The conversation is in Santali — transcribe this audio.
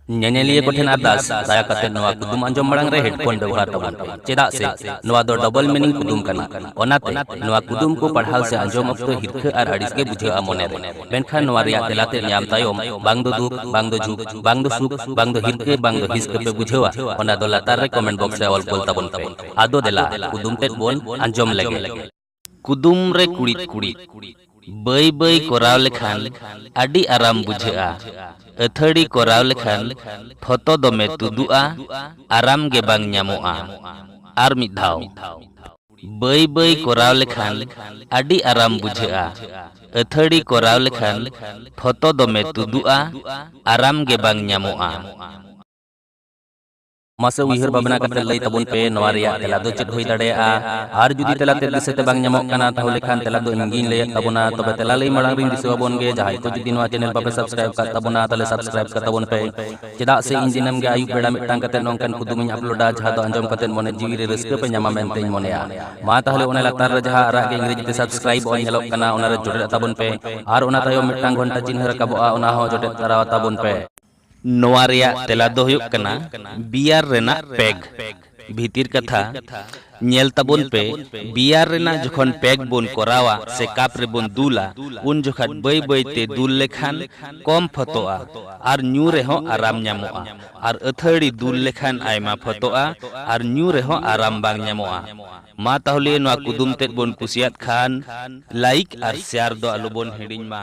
ᱧᱮᱧᱮᱞᱤᱭᱟᱹ ᱠᱚᱴᱷᱮᱱ ᱟᱨᱫᱟᱥ ᱫᱟᱭᱟ ᱠᱟᱛᱮ ᱱᱚᱣᱟ ᱠᱩᱫᱩᱢ ᱟᱸᱡᱚᱢ ᱢᱟᱲᱟᱝ ᱨᱮ ᱦᱮᱰᱯᱷᱳᱱ ᱵᱮᱣᱦᱟᱨ ᱛᱟᱵᱚᱱ ᱯᱮ ᱪᱮᱫᱟᱜ ᱥᱮ ᱱᱚᱣᱟ ᱫᱚ ᱰᱚᱵᱚᱞ ᱢᱤᱱᱤᱝ ᱠᱩᱫᱩᱢ ᱠᱟᱱᱟ ᱚᱱᱟᱛᱮ ᱱᱚᱣᱟ ᱠᱩᱫᱩᱢ ᱠᱚ ᱯᱟᱲᱦᱟᱣ ᱥᱮ ᱟᱸᱡᱚᱢ ᱚᱠᱛᱚ ᱦᱤᱨᱠᱷᱟᱹ ᱟᱨ ᱟᱹᱲᱤᱥ ᱜᱮ ᱵᱩᱡᱷᱟᱹᱜᱼᱟ ᱢᱚᱱᱮ ᱨᱮ ᱢᱮᱱᱠᱷᱟᱱ ᱱᱚᱣᱟ ᱨᱮᱭᱟᱜ ᱛᱮᱞᱟ ᱛᱮ ᱧᱟᱢ ᱛᱟᱭᱚᱢ ᱵᱟᱝ ᱫᱚ ᱫᱩᱠ ᱵᱟᱝ ᱫᱚ ᱡᱷᱩᱠ ᱵᱟᱝ ᱫᱚ ᱥᱩᱠ ᱵᱟᱝ ᱫᱚ ᱦᱤᱨᱠᱟᱹ ᱵᱟᱝ ᱫᱚ ᱦᱤᱥᱠᱟᱹ ᱯᱮ ᱵᱩᱡᱷᱟᱹᱣᱟ ᱚᱱᱟ ᱫᱚ ᱞᱟᱛᱟᱨ ᱨᱮ ᱠᱚᱢᱮᱱᱴ ᱵᱚᱠᱥ ᱨᱮ ᱚᱞ ᱠᱚᱞ ᱛᱟᱵᱚᱱ ᱯᱮ ᱟᱫᱚ ᱫᱮᱞᱟ ᱠᱩᱫᱩᱢ ᱛᱮᱫ ᱵᱚᱱ ᱟᱸᱡᱚᱢ ᱞᱮᱜᱮ ᱠᱩᱫᱩᱢ ᱨᱮ ᱠᱩᱲᱤᱫ ᱠᱩᱲᱤᱫ ᱵᱟᱹᱭ ᱵᱟᱹᱭ ᱠᱚᱨᱟᱣ ᱞᱮᱠᱷᱟᱱ ᱟᱹᱰᱤ ᱟᱨᱟᱢ ᱵᱩᱡᱷᱟᱹᱜᱼᱟ᱾ ᱟᱹᱛᱷᱟᱹᱲᱤ ᱠᱚᱨᱟᱣ ᱞᱮᱠᱷᱟᱱ ᱯᱷᱚᱛᱚ ᱫᱚᱢᱮ ᱛᱩᱫᱩᱜᱼᱟ, ᱟᱨᱟᱢ ᱜᱮ ᱵᱟᱝ ᱧᱟᱢᱚᱜᱼᱟ᱾ ᱟᱨ ᱢᱤᱫ ᱫᱷᱟᱣ᱾ ᱵᱟᱹᱭ ᱵᱟᱹᱭ ᱠᱚᱨᱟᱣ ᱞᱮᱠᱷᱟᱱ ᱟᱹᱰᱤ ᱟᱨᱟᱢ ᱵᱩᱡᱷᱟᱹᱜᱼᱟ᱾ ᱟᱹᱛᱷᱟᱹᱲᱤ ᱠᱚᱨᱟᱣ ᱞᱮᱠᱷᱟᱱ ᱯᱷᱚᱛᱚ ᱫᱚᱢᱮ ᱛᱩᱫᱩᱜᱼᱟ, ᱟᱨᱟᱢ ᱜᱮ ᱵᱟᱝ ᱧᱟᱢᱚᱜᱼᱟ᱾ ᱢᱟᱥᱮ ᱩᱭᱦᱟᱹᱨ ᱵᱷᱟᱵᱽᱱᱟ ᱠᱟᱛᱮ ᱞᱟᱹᱭ ᱛᱟᱵᱚᱱ ᱯᱮ ᱱᱚᱣᱟ ᱨᱮᱭᱟᱜ ᱛᱮᱞᱟ ᱫᱚ ᱪᱮᱫ ᱦᱩᱭ ᱫᱟᱲᱮᱭᱟᱜᱼᱟ ᱟᱨ ᱡᱩᱫᱤ ᱛᱮᱞᱟ ᱛᱮ ᱫᱤᱥᱟᱹ ᱛᱮ ᱵᱟᱝ ᱧᱟᱢᱚᱜ ᱠᱟᱱᱟ ᱛᱟᱦᱚᱞᱮ ᱠᱷᱟᱱ ᱛᱮᱞᱟ ᱫᱚ ᱤᱧ ᱜᱤᱧ ᱞᱟᱹᱭᱮᱫ ᱛᱟᱵᱚᱱᱟ ᱛᱚᱵᱮ ᱛᱮᱞᱟ ᱞᱟᱹᱭ ᱢᱟᱲᱟᱝ ᱨᱤᱧ ᱫᱤᱥᱟᱹ ᱟᱵᱚᱱ ᱜᱮ ᱡᱟᱦᱟᱸᱭ ᱠᱚ ᱡᱩᱫᱤ ᱱᱚᱣᱟ ᱪᱮᱱᱮᱞ ᱵᱟᱯᱮ ᱥᱟᱵᱥᱠᱨᱟᱭᱤᱵ ᱠᱟᱜ ᱛᱟᱵᱚᱱᱟ ᱛᱟᱦᱚᱞᱮ ᱥᱟᱵᱥᱠᱨᱟᱭᱤᱵ ᱠᱟᱜ ᱛᱟᱵᱚᱱ ᱯᱮ ᱪᱮᱫᱟᱜ ᱥᱮ ᱤᱧ ᱫᱤᱱᱟᱹᱢ ᱜᱮ ᱟᱹᱭᱩᱵ ᱵᱮᱲᱟ ᱢᱤᱫᱴᱟᱝ ᱠᱟᱛᱮ ᱱᱚᱝᱠᱟᱱ ᱠᱩᱫᱩᱢ ᱤᱧ ᱟᱯᱞᱳᱰᱟ ᱡᱟᱦᱟᱸ ᱫᱚ ᱟᱸᱡᱚᱢ ᱠᱟᱛᱮ ᱢᱚᱱᱮ ᱡᱤᱣᱤ ᱨᱮ ᱨᱟᱹᱥᱠᱟᱹ ᱯᱮ ᱧᱟᱢᱟ ᱢᱮᱱᱛᱮ ᱤᱧ ᱢᱚᱱᱮᱭᱟ ᱢᱟ ᱛᱟᱦᱚᱞᱮ ᱚᱱᱟ ᱞᱟᱛᱟᱨ ᱨᱮ ᱡᱟᱦᱟᱸ ᱟᱨᱟᱜ ᱜᱮ ᱤᱝᱨᱮᱡᱤ ᱛᱮ ᱥᱟᱵᱥᱠᱨᱟᱭᱤᱵ ᱚᱞ ᱧᱮᱞᱚᱜ ᱠᱟᱱᱟ ᱚᱱᱟ ᱨᱮ ᱡᱚᱴᱮᱫ ᱛᱟᱵᱚᱱ ᱯᱮ ᱟᱨ ᱚᱱᱟ ᱛᱟᱭᱚᱢ ᱢᱤᱫᱴᱟᱝ ᱜᱷᱚᱱᱴᱟ ᱪᱤᱱᱦᱟᱹ ᱨᱟᱠᱟᱵᱚᱜᱼᱟ ᱚᱱᱟ ᱦᱚᱸ ᱡᱚᱴᱮᱫ ᱛᱟᱨᱟ ᱛᱟᱵᱚᱱ ᱯᱮ ᱱᱚᱣᱟ ᱨᱮᱭᱟᱜ ᱛᱮᱞᱟ ᱫᱚ ᱦᱩᱭᱩᱜ ᱠᱟᱱᱟ ᱵᱤᱭᱟᱨ ᱨᱮᱱᱟᱜ ᱯᱮᱜᱽ᱾ ᱵᱷᱤᱛᱤᱨ ᱠᱟᱛᱷᱟ, ᱧᱮᱞ ᱛᱟᱵᱚᱱ ᱯᱮ, ᱵᱤᱭᱟᱨ ᱨᱮᱱᱟᱜ ᱡᱚᱠᱷᱚᱱ ᱯᱮᱜᱽ ᱵᱚᱱ ᱠᱚᱨᱟᱣᱟ ᱥᱮ ᱠᱟᱯ ᱨᱮᱵᱚᱱ ᱫᱩᱞᱟ, ᱩᱱ ᱡᱚᱠᱷᱟᱡ ᱵᱟᱹᱭ ᱵᱟᱹᱭ ᱛᱮ ᱫᱩᱞ ᱞᱮᱠᱷᱟᱱ ᱠᱚᱢ ᱯᱷᱚᱛᱚᱜᱼᱟ ᱟᱨ ᱧᱩ ᱨᱮᱦᱚᱸ ᱟᱨᱟᱢ ᱧᱟᱢᱚᱜᱼᱟ ᱟᱨ ᱟᱹᱛᱷᱟᱹᱲᱤ ᱫᱩᱞ ᱞᱮᱠᱷᱟᱱ ᱟᱭᱢᱟ ᱯᱷᱚᱛᱚᱜᱼᱟ ᱟᱨ ᱧᱩ ᱨᱮᱦᱚᱸ ᱟᱨᱟᱢ ᱵᱟᱝ ᱧᱟᱢᱚᱜᱼᱟ᱾ ᱢᱟ ᱛᱟᱦᱚᱞᱮ ᱱᱚᱣᱟ ᱠᱩᱫᱩᱢ ᱛᱮᱫ ᱵᱚᱱ ᱠᱩᱥᱤᱭᱟᱫ ᱠᱷᱟᱱ ᱞᱟᱭᱤᱠ ᱟᱨ ᱥᱮᱭᱟᱨ ᱫᱚ ᱟᱞᱚ ᱵᱚᱱ ᱦᱤᱲᱤᱧ ᱢᱟ᱾